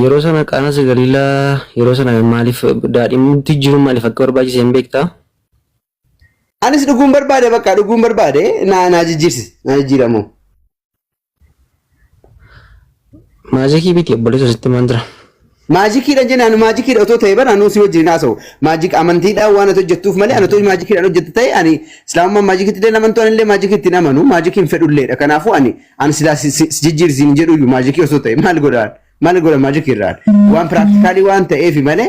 Yeroo sana qaana sigaliilaa yeroo sana maaliif daadhimti jiru maaliif akka barbaachise hin beektaa? Anis dhuguun barbaade bakka dhuguun barbaade naa naa jijjiirsi naa jijjiiramoo. Maajikii biti obboleessa sitti maan jira. Maajikiidhaan jennaan anu maajikiidha otoo ta'e bara anuu si wajjin hin haasa'u. Maajik amantiidhaan waan ati hojjettuuf malee anatoo maajikiidhaan hojjette ta'e ani islaamummaan maajikitti illee amantu ani illee maajikitti hin amanu maajikii hin fedhulleedha. Kanaafuu ani ani silaa si- si- si jijjiirsiin hin jedhuyyuu maajikii osoo ta'e maal godhaan maal godha maajikiirraan waan piraaktikaalii waan ta'eefi malee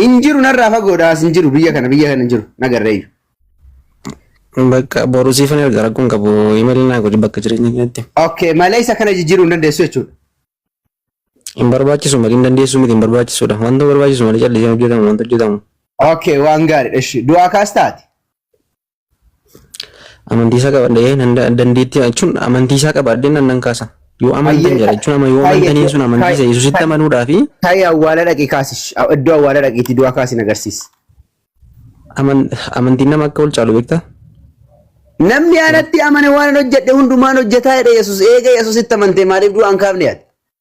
Hin jiru narraa fagoodha as hin jiru biyya kana biyya kana hin jiru nagarreeyyu. Bakka boru siifan erga rakkoon qabu imeeli naa godhi bakka jireenya keetti. Okay malee isa kana jijjiiruu hin dandeessu jechuudha. Hin barbaachisu malee hin dandeessu miti hin barbaachisudha. Wanta barbaachisu malee callisee hojjetamu wanta hojjetamu. Okay waan gaariidha ishii du'aa kaas taate. Amantiisaa qabadhee nan da- dandeettii jechuun amantiisaa qabaadhee nan nan kaasa. Yoo amantan Hayyee, jedha jechuun ama yoo hayyee, amantaniin sun amantiisa hayyee, Yesuusitti hayyee. amanuudhaa fi Taa'ii awwaala dhaqi kaasish. Iddoo awwaala dhaqiitii du'aa kaasiin agarsiis. aman- amantiin nama akka ol caalu beektaa? Namni anatti amane waan hojjedhe hundumaan hojjetaa jedhe Yesuus. Eega Yesuusitti amantee maaliif du'aa hin kaafne yaad?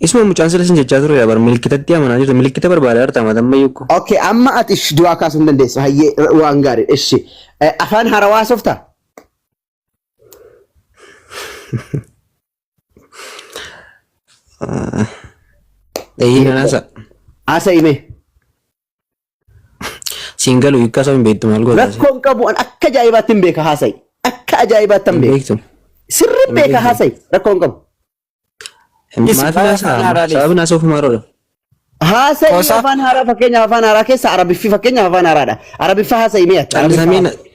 Isuma mucaan sila sin jechaa ture bar milikkitatti amanaa jirta milikkita barbaadaa jirta mata amma yukku. Okay, amma ati ish du'aa kaasuu hin dandeessu. Hayyee r- waan gaarii ishi. Eh, Afaan haarawaa haasofta? Eeyyee nanaasa. Haasa'ime. Siin galu hiikkaa isaa hin beektu maal goota? Rakkoo hin qabu an akka ajaa'ibaatti hin beeka haasa'i. Akka ajaa'ibaatti hin Hin beeka. beektu. Sirri hin beeka haasa'i. Rakkoo hin qabu. Maatii Afaan haasaa haaraa deessi. sababni haasa'uuf maaroodha. Haasa'i Qosa. afaan haaraa fakkeenyaaf afaan haaraa keessa arabiffi fakkeenyaaf afaan haaraadha. Arabiffa haasa'i mee ati. Callisamee Arabiffa na-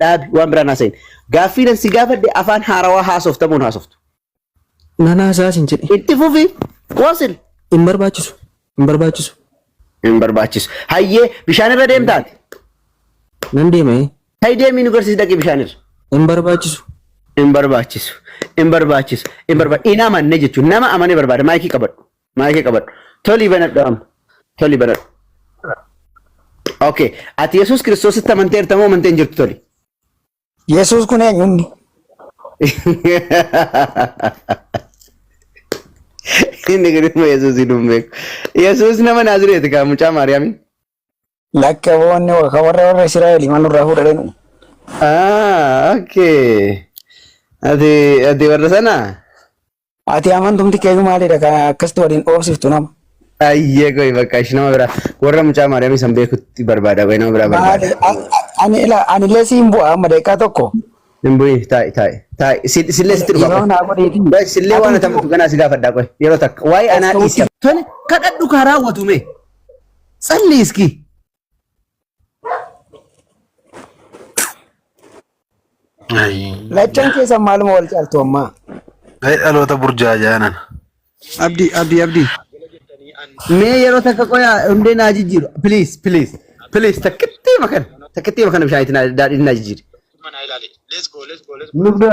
dhaabi waan biraan haasa'in. Gaaffii nan si gaafadhe afaan haarawaa haasoftamuun haasoftu. Nan haasaa sin jedhe. Itti fufi wasil Hin barbaachisu. Hin barbaachisu. hin barbaachisu. Hayyee bishaan irra deemtaati. Nan deema ee. Hayi deemii nu garsiis dhaqi bishaan irra. Hin barbaachisu. Hin barbaachisu. Hin barbaachisu. Hin barbaachisu. Hin amanne jechuun nama amanee barbaada maayikii qabadhu. Maayikii qabadhu. Tolii banadhu amma. Tolii banadhu. Okay. Ati Yesuus Kiristoositti amanteerta moo amantee hin jirtu toli? Yesuus kun eenyunni? Inni kun immoo Yesuus hin beeku. Yesuus nama Naazireeti kaa mucaa Maariyaamii. Lakke boonni ka warra warra Israa'eeli man nurraa fuudhadhenu. Ah, okay. Ati ati warra sanaa? Ati amantumti keeyyuu maalidha kan akkasitti waliin dhoofsiftu nama. Ayyee qoy bakka ishi nama biraa warra mucaa maadamii san beekutti barbaada qoy nama biraa barbaada. Maali- a- a- Ani ila ani illee siin bu'a amma daqiiqaa tokko. Hin bu'in taa'i taa'i taa'i Si- sillee sitti dhufa Yeroo qoy. naa godheeti. Qoy sillee waan atamtu ganaa si gaafadhaa qoy yeroo takka waa'ee anaa dhiisi. Tole kadhadhu kaa raawwatu mee. Tsalli iski. Lachan keessa maaluma wal caaltu ammaa. Ga'e dhaloota burjaajaa nana. Abdi abdi abdi. Mee yeroo takka qoyaa hundee naa jijjiiru. Please please please takkittii makana takkittii makana bishaan itti naa- daadhiin naa jijjiiri. Nubda.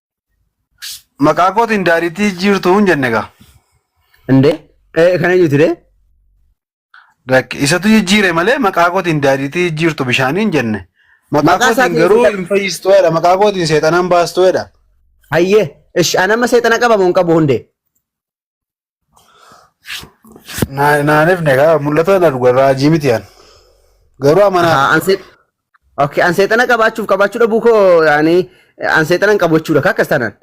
Maqaa kootiin daariitii jijjiirtuu hin jenne gaa. Indee eh, kan eenyuti dee? Lakki isatu jijjiire malee maqaa kootiin daariitii jijjiirtu bishaanii hin jenne. Maqaa Maqaa kootiin isaatiin garuu seexan- hin fayyistu jedha. Maqaa kootiin seexanaan baastu jedha. Hayyee ish anamma seexana qabamu hin qabu hundee. Naa- Naanif ne kaa mul'ata na dhuga raajii miti an. Garuu amanaa Ahaa, an seex- Okay, an seexana qabaachuuf qabaachuu dhabuu koo yaani an seexana hin qabu jechuudha akkas taanaan.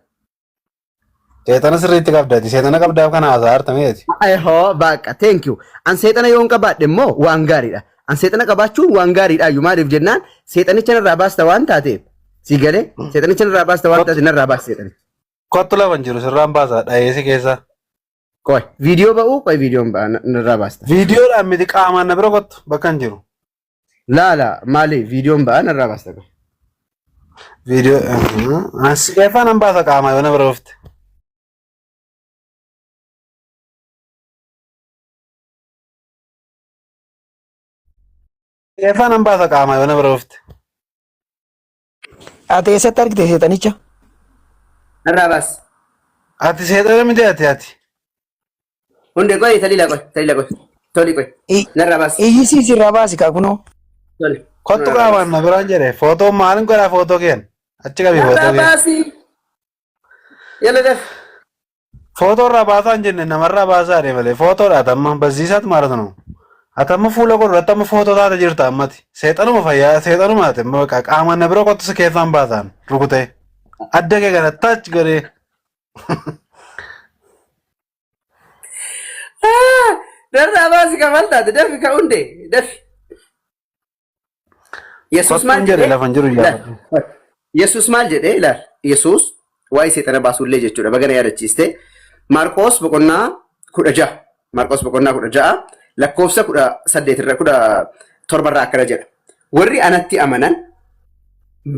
seexana sirriitti qabdati seexana qabdaaf kana haasaa hartameeti. Ehoo baaqa thank you. An seexana yoon qabaadhe immoo waan gaariidha. An seexana qabaachuun waan gaariidha iyyuu maaliif jennaan seexanicha narraa baasta waan taateef si galee seexanicha narraa baasta waan taateef narraa baasta seexanicha. Kottu lafan jiru sirraan baasaa dhayeessi keessa. Qoy viidiyoo ba'uu qoy viidiyoon ba'a na- narraa baasta. Viidiyoodhaan miti qaamaan na bira kottu bakka hin jiru. Laala maali viidiyoon ba'a narraa baasta qoy. Viidiyoo asi keessa nan baasa qaamaa yoo na bira dhufte. Keessa nan baasa qaamaa yoo na bira dhufte. Ati eessatti argite seexanicha? Narraa baas. Ati seexana miti ati ati. Hundee qoy taliila qoy taliila qoy. Toli qoy. I- Narraa baas. Iyyisii sirraa baasi kaa kunoo. Toli. Kottu Narraa qaamaan baas. na biraan jedhe. Footoo maalin godhaa footoo keen? Achi qabi footoo Narraa keen. baasi. Yalla daf. Footoo irraa baasaa hin jenne namarraa baasaa jedhe malee footoodha atamma barsiisaatu maarata nu. Atamma fuula godhu irratti amma footoo taate jirta ammati. Seexanuma fayyaa seexanuma ati amma bakka qaama na bira kottu si keessaan baasaan rukutee. Adda kee kana taach godhee. Darraa baasi kafaltaati dafi ka hundee dafi. Yesuus maal Kottuun jedhe jedhee? lafan jiru Ilaal. iyyaafatte. Yesuus maal jedhee? Ilaal. Yesuus waa'ee seexana baasuullee jechuudha. Bagana yaadachiiste. Maarqoos boqonnaa kudha ja'a. Maarqoos boqonnaa kudha ja'a lakkoofsa kudha saddeet irra kudha torba irraa akkana jedha. Warri anatti amanan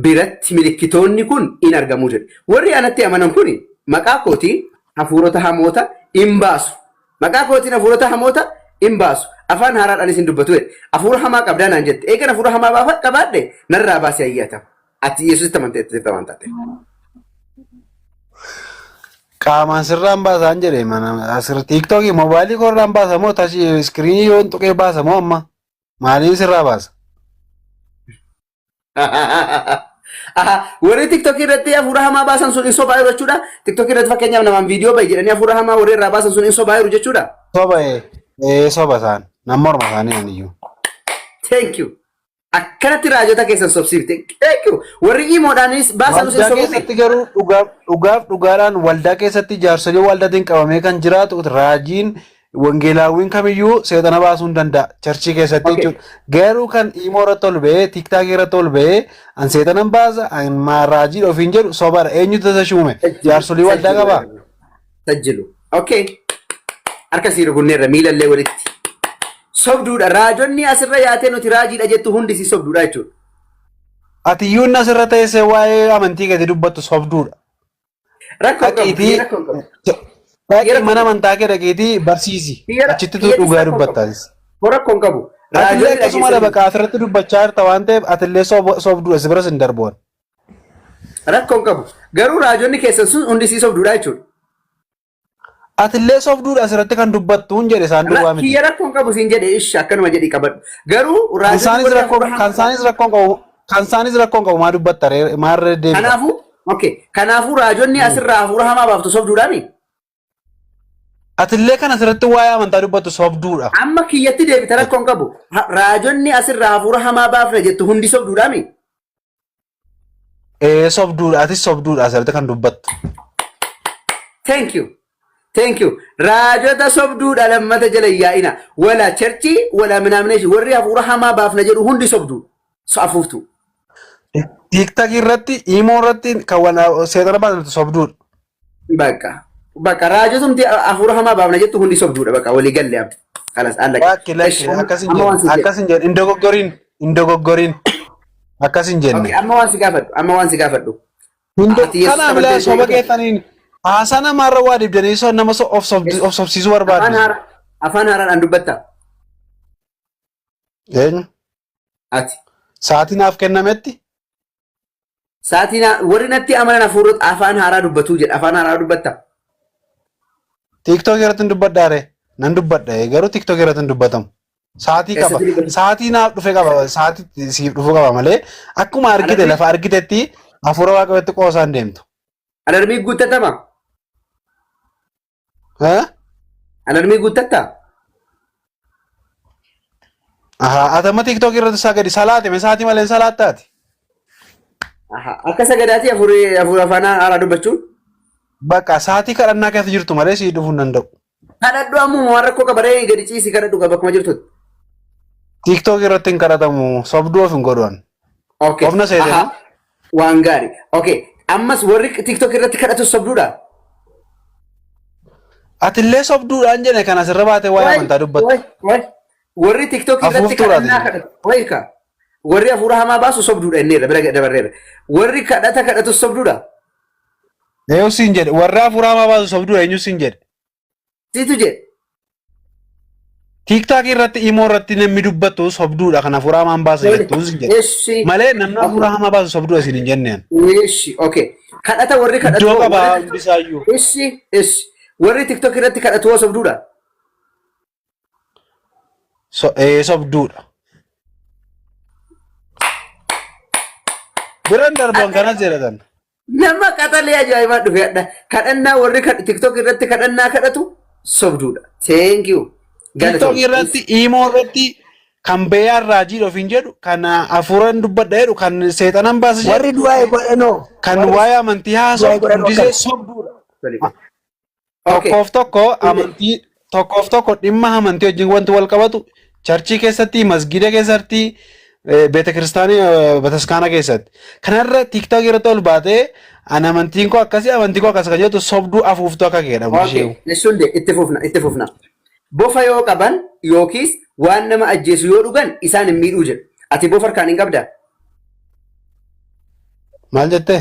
biratti milikkitoonni kun in argamu jedhe. Warri anatti amanan kun maqaa kootiin hafuurota hamoota in baasu. Maqaa kootiin hafuurota hamoota in baasu, afaan haaraadhaanis in dubbatu jedhe. Hafuura hamaa qabdaa naan jette. Eegan hafuura hamaa baafa- qabaadhe, narraa baasi ayyaata. Ati Yesusitti amantee jirta waan taateef. Qaamaan sirraan baasaan jedhe mana asirra tiiktookii mobaayilii koorraan baasa moo tachi iskiriinii yoon tuqee baasa moo amma maaliin sirraa baasa? Aha, warri tiktok irratti hafuura hamaa baasan sun hin sobaayiru jechuudha. Tiktok irratti fakkeenyaaf namaan viidiyoo bahi jedhanii hafuura hamaa warri irraa baasan sun hin sobaayiru jechuudha. Soba ee ee, soba isaan nama morma isaanii ani iyyuu. Thank you. Akkanatti raajota keessan sobsiifte. Thank you. Warri imoodhaanis baasan sun Waldaa sobuufi. keessatti garuu dhugaaf dhugaaf dhugaadhaan waldaa keessatti jaarsolii waldaatiin qabamee kan jiraatu raajiin Wangeelaawwiin kamiyyuu seexana baasuu hin danda'a. Charchii keessatti Okay. jechuudha. Garuu kan imoo irratti ol ba'ee, tiiktaakii irratti ol ba'ee, an seexanan baasa, an ma- raajiidha ofiin jedhu sobadha. Eenyutu isa shuume? Jaarsolii waldaa qabaa? Tajjilu. Okay. Harka sii rukunneerra miilallee walitti. Sobduudha. Raajonni asirra yaatee nuti raajiidha jettu hundi si sobduudha jechuudha. Ati iyyuu inni asirra teessee waa'ee amantii gadi dubbattu sobduudha. Rakkoon qabu Dhaqiitii biyya rakkoon qabu. Biyya dhaqii rakkoon mana qabu. amantaa kee dhaqiitii barsiisi. Biyya ra- Achittitu biyya dhugaa rakkoon qabu. dubbattaas. Boo rakkoon qabu. Atillee Raajoonni akkasuma dhageessanii lafa qaasirratti dubbachaa jirta waan ta'eef atillee sob- sobduudha si biras hin darboon. rakkoon qabu. Garuu raajonni keessan sun hundi sii sobduudha jechuudha. Atillee sobduudha asirratti kan dubbattuun jedhe isaan duwwaa miti. Kiyya rakkoon qabu siin jedhe ishi akkanuma jedhi qabadhu. Garuu Kan raajonni isaanis warri rakkoon hafuura kan hamaa isaanis rakkoon qabu kan isaanis rakkoon qabu maa dubbatta ree maa irra deebita. kanaafuu okay kanaafuu raajonni Hmm. asirraa hafuura hamaa baaftu sobduudhaani. Atillee kan asirratti waa'ee amantaa dubbattu sobduudha. Amma kiyyatti deebita rakkoon qabu. Ha- Raajonni asirraa hafuura hamaa baafna jettu hundi sobduudhaani. Ee sobduudha atis sobduudha asirratti kan dubbattu. Thank you. Thank you. Raajota sobduudha lammata jala yaa'ina. Wala cherchii wala minaamination warri hafuura hamaa baafna jedhu hundi sobduudha. So afuuftuu. Tiiktakii irratti imoo irratti kan wana seexana baasatu sobduudha. Bakka. Bakka raajotumti hafuura hamaa baafna jettu hundi sobduudha bakka walii galle abdi. Kalas allaqe. Lakki lakki akkas hin jenne akkas hin jenne hin dogoggoriin hin dogoggoriin akkas hin jenne. Okay, amma waan si gaafadhu amma waan si gaafadhu. Hundo Ati Yesuus kana milaa amanteessee soba jirtu? keessaniin haasaa namaarra waa dibdanii so- nama so- of sobdi- of sobsiisuu Afaan barbaadu. haaraan afaan haaraan an dubbatta. Eenyu? Ati. Sa'aatii naaf kennametti? Sa'aatii naa- warri natti amanan hafuura afaan haaraa dubbatuu jedha. Afaan haaraa dubbatta. Tiiktookii irratti hin dubbadhaa ree? Nan dubbadha ee, garuu tiiktookii irratti hin dubbatamu. Sa'aatii qaba. Eessatti dubbatu? Sa'aatii naaf dhufe qaba. Sa'aatii siif dhufu qaba malee akkuma argite Alarmii- lafa argitetti hafuura waaqayyootti qoosaan deemtu. Alarmii guuttatama. Haa? Alarmii guuttatta? Ahaa, ati amma TikTok irratti sagadi salaate mee sa'aatii malee salaattaati. Aha, Akka sagadaatii afurii afurii afaan haaraa dubbachuun? Bakka sa'aatii kadhannaa keessa jirtu malee sii dhufuu hin danda'u. Kadhadhu ammuma waan rakkoo qabaree gadi ciisi kadhadhu qaba akkuma jirtutti. TikTok irratti hin kadhatamu sobduu of hin godhan. Okay. Ofna seetee Aha. moo? Waan gaari. Ok. Ammas warri TikTok irratti kadhatu sobduudha. Atillee sobduudhaan jene kan asirra baatee waa'ee amantaa dubbatte. Way, way. Warri TikTok irratti Afuuftuudha kadhannaa ati. kadhatu. Way ka. Warri hafuura hamaa baasu sobduudha inni irra bira dabarreera. Warri kadhata kadhatu sobduudha. Eeyyuu siin jedhe warra hafuura hamaa baasu sobduudha eenyu siin jedhe. Situ jedhe. Tiiktaak irratti imoo irratti namni dubbattu sobduudha kan hafuuraa hamaan baasa jettu sin jedhe. Eshi. Malee namni hafuuraa hamaa baasu sobduudha sin hin jenneen. Eshi. Okay. Kadhata warri kadhatu. Iddoo qabaa hundisaayyuu. Eshi. Eshi. Warri TikTok irratti kadhatu hoo sobduudha. So, ee, sobduudha. Biran darban kana jedhatan. Nama qaxalee ajaa'ibaa dhufe hadha. Kadhannaa warri kad- TikTok irratti kadhannaa kadhatu sobduudha. Thank you. TikTok Galatoom. irratti, Imo irratti kan beeyaan raajii ofiin jedhu, kan afuuran dubbadha jedhu, kan seexanan baasa jedhu, Warri du'aa godhanoo. kan waa'ee amantii haasa'u du'aa godhan hundisee akkana. sobduudha. Okay. Tokkoof tokko amantii tokkoof tokko dhimma amantii wajjin wanti wal qabatu charchii keessatti masgiida keessatti eh, beeta kiristaanii eh, bataskaana keessatti kanarra tiktok irratti ol baatee an amantiin koo akkasii amantii koo akkas kan jettu sobduu afuuftuu akka keedhamu Okay. ishee Eessuun dee itti fufna itti fufna. Bofa yoo qaban yookiis waan nama ajjeesu yoo dhugan isaan hin miidhuu jedhu. Ati bofa harkaan hin qabdaa? maal jettee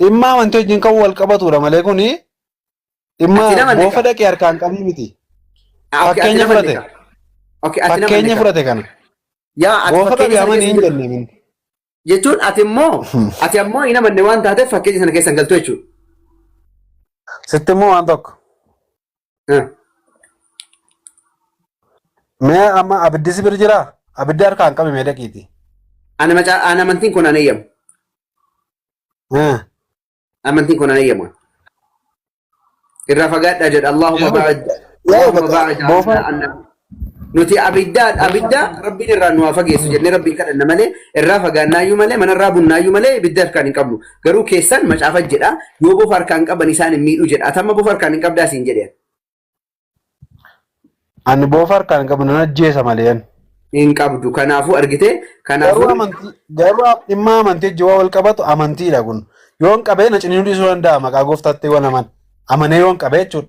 Dhimma amantii wajjin kan wal qabatudha malee kuni dhimma Ati nama boofa neka. dhaqee harkaan qabii miti. Ah, okay, ati Fakkeenya nama fudhate. neka. Okay, ati nama Fakkeenya neka. fudhate kana. Yaa ati Boofa fakkeenya qabii sana amanii keessa hin hin galtu. jenne minni. Jechuun ati immoo ati ammoo hin amanne waan taateef fakkeenya sana keessa hin galtu jechuudha. Sitti immoo waan tokko. Eh, Mee amma abiddi si bira jiraa? Abiddi harkaan qabi mee dhaqiiti. Ani macaa ani amantiin kun ani eeyyamu. Eh, Amantiin kun ani eeyyamu. Irraa fagaadhaa jedha Allahumma Yaa'u baa'id. Yaa'u Allahumma baa'id boofaa anna. Nuti abiddaadha. Abidda rabbiin irraa nu haa fageessu jennee rabbiin kadhanna malee irraa fagaannaayyuu malee manarraa bunnaayyuu malee ibidda harkaan hin qabnu. Garuu keessan macaafa jedha yoo bofa harkaan qaban isaan hin miidhu jedha. Atamma bofa harkaan hin qabdaa siin jedhe. Ani boofa harkaan hin qabu nan ajjeesa malee ani. Hin qabdu. Kanaafuu argite. Garuu Kanaafuu amantii garuu am- dhimma amantii wajjin waan wal qabatu amantiidha kun. Yoon qabee na ciniinuu dhiisuu danda'a maqaa gooftaatti waan aman amanee yoon qabee jechuudha.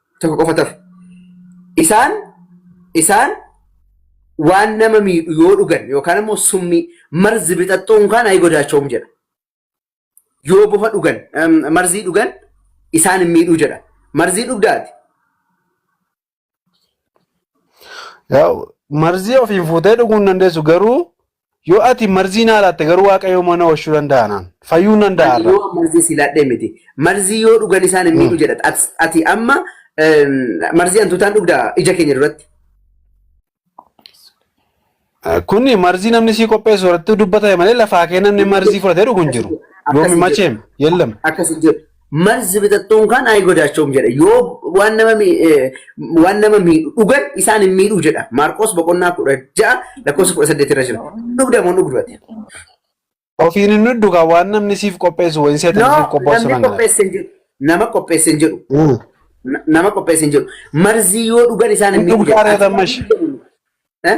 tokko qofa tafe. Isaan isaan waan nama miidhu yoo dhugan yookaan immoo summii marzi bixaxxuun kaan ayi godaachoom jedha. Yoo bofa dhugan em, marzii dhugan isaan hin miidhuu jedha. Marzii dhugdaati. Yaa'u, Marzii ofiin fuutee dhuguu hin dandeessu garuu Yoo ati marzii naa laatte garuu waaqayyoo mana oolchuu danda'a naan. Fayyuu nan danda'a Ani irra. yoo marzii si laadhee miti. Marzii yoo dhugan isaan hin miidhu jedha. Ati- Ati amma em, marzii hantuutaan dhugda ija keenya duratti. Kun marzii namni sii qopheessu irratti dubbatame malee lafaa kee namni marzii fudhatee dhugu hin jiru. Yoomi Akkasi jedhu. macheem yellam. Akkasi jedhu. marzi bixaxxuun kan ayi godaachoom jedha. Yoo waan nama mi- eh, waan nama miidhu dhugan isaan hin miidhuu jedha. Maarqos boqonnaa kudha ja'a lakkoofsa kudha saddeet irra jira. Dhugda moo dhugdate? Ofiin hin dhuddu kan waan namni siif qopheessu wayii seetan No, siif qopheessu namni nan jedha. qopheesse hin jiru. Nama qopheesse hin jiru. Mm. Na- Nama qopheesse hin jiru. Marzii yoo dhugan isaan hin Hin miidhu dhugdaa jedha. reetan mashi. Eh?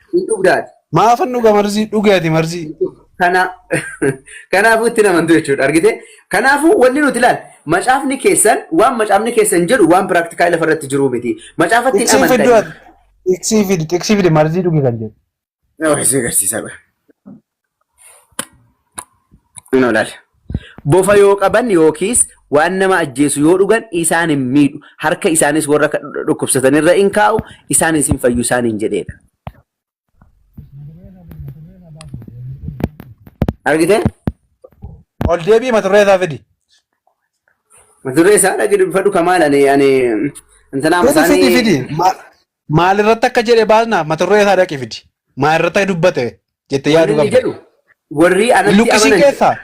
Hin dhugda ati. Maafan dhuga marzii dhuge ati marzii. Kana kanaafuu itti namantu jechuudha argite. Kanaafuu wanni nuti ilaal macaafni keessan waan macaafni keessan jedhu waan piraaktikaa lafa irratti jiruu miti. Macaafatti hin Xiqsii fiddu amantanii. ati. Xiqsii fidi xiqsii fidi marzii dhuge kan jedhu. Nama isin agarsiisaa bara. Kunoo laal. Bofa yoo qaban yookiis waan nama ajjeesu yoo dhugan isaan hin miidhu. Harka isaanis warra ka- dhukkubsatan irra in kaa'u, isaanis hin fayyu isaaniin jedheedha. Argitee? Ol deebii mata duree isaa fidi. Mata duree isaa dhaggeeffadhu kamaal ani ani intanaa Fidi fidi isaanii fidi. Ma- Maalirratti akka jedhe baasna mata duree isaa dhaqi fidi. Maalirratti akka dubbate jettee Wanni yaaduu inni qabda. jedhu warri anatti Luqisiin amanan keessaa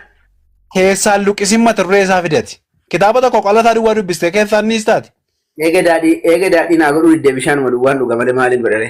keessaan luqisiin mata duree isaa fidati. Kitaaba tokko qola isaa duwwaa dubbistee keessaa inni istaati. eega daadhii eega daadhii naa godhuu diddee bishaanuma duwwaan dhuga malee maaliin godhare.